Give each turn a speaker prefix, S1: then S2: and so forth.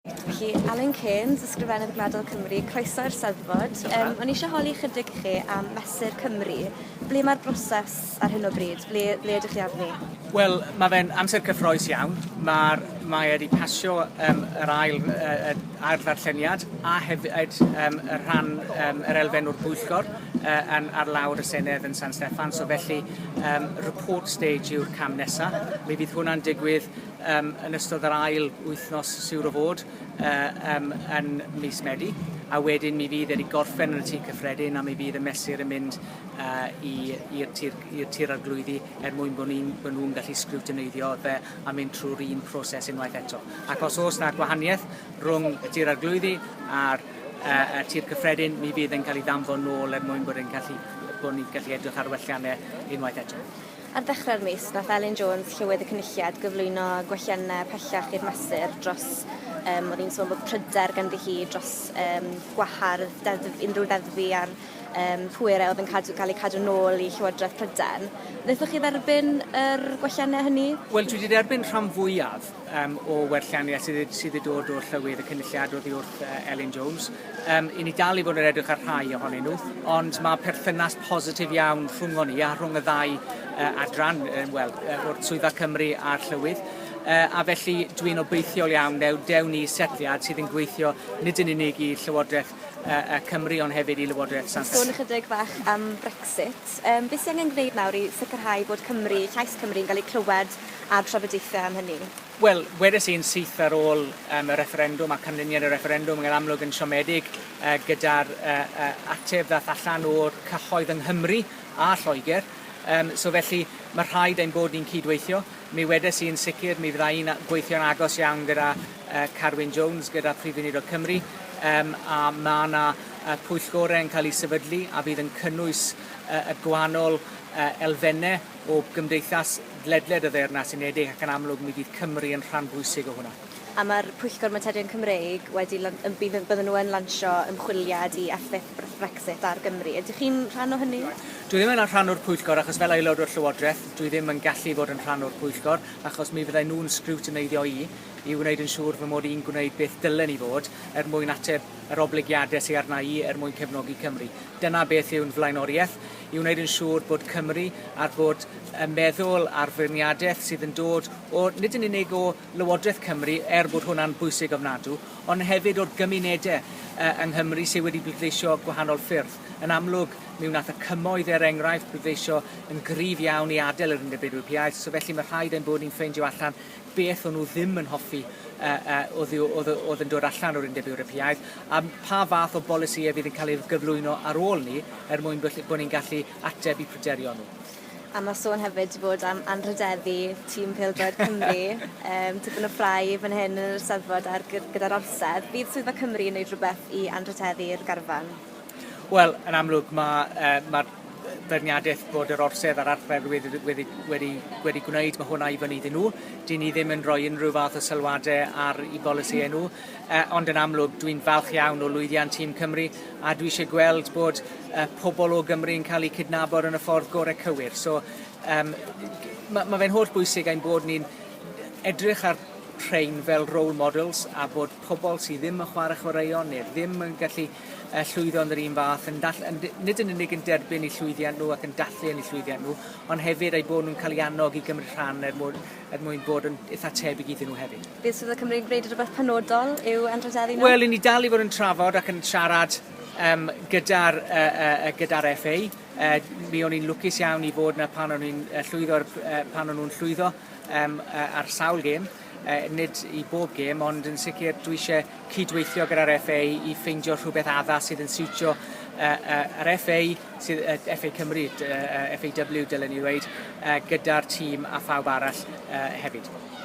S1: Felly, Alun Cairns, Ysgrifennydd Gwladol Cymru, croeso i'r Steddfod. Um, o'n i eisiau holi chydig i chi am Mesur Cymru. Ble mae'r broses ar hyn o bryd? Ble, ble ydych chi arni? Wel, mae fe'n amser cyffroes iawn. Mae'r mae wedi pasio um, yr ail, uh, ail ddarlleniad a hefyd um, y rhan um, yr elfen o'r bwyllgor uh, yn, ar lawr y Senedd yn San Steffan. So felly, um, report stage yw'r cam nesaf. Mi fydd hwnna'n digwydd um, yn ystod yr ail wythnos siwr o fod uh, um, yn mis Medi, a wedyn mi fydd wedi gorffen yn y tir cyffredin a mi fydd y mesur yn mynd uh, i'r tir, tir arglwyddi er mwyn bod nhw'n gallu sgriwtyneiddio fe a mynd trwy'r un proses unwaith eto. Ac os oes na gwahaniaeth rhwng y tir arglwyddi a'r uh, tir cyffredin, mi fydd yn cael ei ddanfon nôl er mwyn bod yn gallu bod ni'n gallu edrych ar welliannau unwaith eto. Ar ddechrau'r mis, nath Elin Jones, Llywydd y Cynulliad, gyflwyno gwelliannau pellach i'r mesur dros, um, oedd hi'n sôn bod pryder ganddi hi dros um, gwahardd deddf, unrhyw ddeddfu ar um, pwerau oedd yn cadw, cael eu cadw nôl i Llywodraeth Prydain. Wnaethoch chi dderbyn yr gwelliannau hynny? Wel, dwi wedi derbyn rhan fwyaf um, o werllianiaeth sydd, sydd wedi dod o'r llywydd y cynulliad oddi wrth uh, Elin Jones. Um, I ni dal i fod yn edrych ar rhai ohonyn nhw, ond mae perthynas positif iawn rhwng ni a rhwng y ddau uh, adran, um, well, uh, o'r Swyddfa Cymru a'r llywydd. Uh, a felly dwi'n obeithiol iawn dew, dew ni setliad sydd yn gweithio nid yn unig i Llywodraeth uh, uh, Cymru ond hefyd i Lywodraeth Sant. Sôn ychydig fach am Brexit. Um, beth sy'n angen gwneud nawr i sicrhau bod Cymru, llais Cymru yn cael ei clywed a'r trafodaethau am hynny? Wel, wedes i'n syth ar ôl um, y refferendwm a canlyniad y refferendwm yn amlwg yn siomedig uh, gyda'r uh, uh, ateb ddath allan o'r cyhoedd yng Nghymru a Lloegr. Um, so felly, mae rhaid ein bod ni'n cydweithio. Mi wedes i'n sicr, mi fydda i'n gweithio'n agos iawn gyda uh, Carwyn Jones, gyda Prif Weinidog Cymru, um, a mae yna uh, pwyllgorau yn cael ei sefydlu a fydd yn cynnwys uh, y gwahanol uh, elfennau o Gymdeithas ledled y Ddeyrnas Unedig ac yn amlwg mi fydd Cymru yn rhan bwysig o hwnna. A mae'r Pwyllgor Materion Cymreig wedi lan- yn bydd yn bydden nhw yn lansio ymchwiliad i effaith Br- Brexit ar Gymru. Ydych chi'n rhan o hynny? Dwi ddim yn rhan o'r Pwyllgor achos fel Aelod o'r Llywodraeth dwi ddim yn gallu fod yn rhan o'r Pwyllgor achos mi fydden nhw'n sgriwtineiddio i i wneud yn siŵr fy mod i'n gwneud beth dylen i fod er mwyn ateb yr oblygiadau sy arna i er mwyn cefnogi Cymru. Dyna beth yw'n flaenoriaeth. i wneud yn siŵr bod Cymru ar bod yn meddwl ar feirniadaeth sydd yn dod o nid yn unig o Lywodraeth Cymru, er bod hwnna'n bwysig ofnadw, ond hefyd o'r gymunedau uh, yng Nghymru sydd wedi bleidleisio gwahanol ffyrdd. Yn amlwg, mi wnaeth y cymoedd er enghraifft bleidleisio yn gryf iawn i adael yr Undeb Ewropeaidd, so felly mae rhaid ein bod ni'n ffeindio allan beth o'n nhw ddim yn hoffi oedd yn dod allan o'r Undeb Ewropeaidd, a pha fath o bolisïau fydd yn cael eu gyflwyno ar ôl 'ny er mwyn bod ni'n gallu ateb i pryderio nhw. A mae sôn hefyd 'di bod am anrhydeddu tîm pêl-droed Cymru. Yym tipyn o ffrae fan hyn yn yr Eisteddfod ar gyda'r Orsedd. Fydd Swyddfa Cymru yn neud rhywbeth i anrhydeddu'r garfan? Wel, yn amlwg, mae yy ma'r yy beirniadaeth bod yr orsedd a'r archfardd wedi wedi wedi wedi gwneud, mae hwnna i fyny iddyn nhw. 'Dyn ni ddim yn rhoi unrhyw fath o sylwadau ar 'u polisïau nhw. Yy ond yn amlwg, dwi'n falch iawn o lwyddiant tîm Cymru, a dwi eisiau gweld bod yy pobl o Gymru yn cael eu cydnabod yn y ffordd gorau cywir. So yym ma' ma' fe'n hollbwysig ein bod ni'n edrych ar rhein fel role models a bod pobl sydd ddim yn chwarae chwaraeon neu ddim yn gallu y llwyddo yn yr un fath, yn dall- yn, nid yn unig yn derbyn eu llwyddiant nhw ac yn dathlu yn eu llwyddiant nhw, ond hefyd eu bod nhw'n cael ei annog i gymryd rhan er mwyn, er mwyn bod yn eitha tebyg iddyn nhw hefyd. Bydd Swyddfa Cymru'n gwneud rhywbeth penodol i'w anrhydeddu nhw? Wel, i ni dal i fod yn trafod ac yn siarad um, gyda'r uh, uh, gyda FA. Uh, mi o'n i'n lwcus iawn i fod yna pan o'n i'n uh, llwyddo, uh, pan o'n nhw'n llwyddo um, uh, ar sawl gêm. Uh, nid i bob gêm, ond yn sicr dwi eisiau cydweithio gyda'r FA i ffeindio rhywbeth addas sydd yn siwtio uh, uh, yr FA, sydd, uh, FA Cymru, uh, FAW dylen ni ddweud, uh, gyda'r tîm a phawb arall uh, hefyd.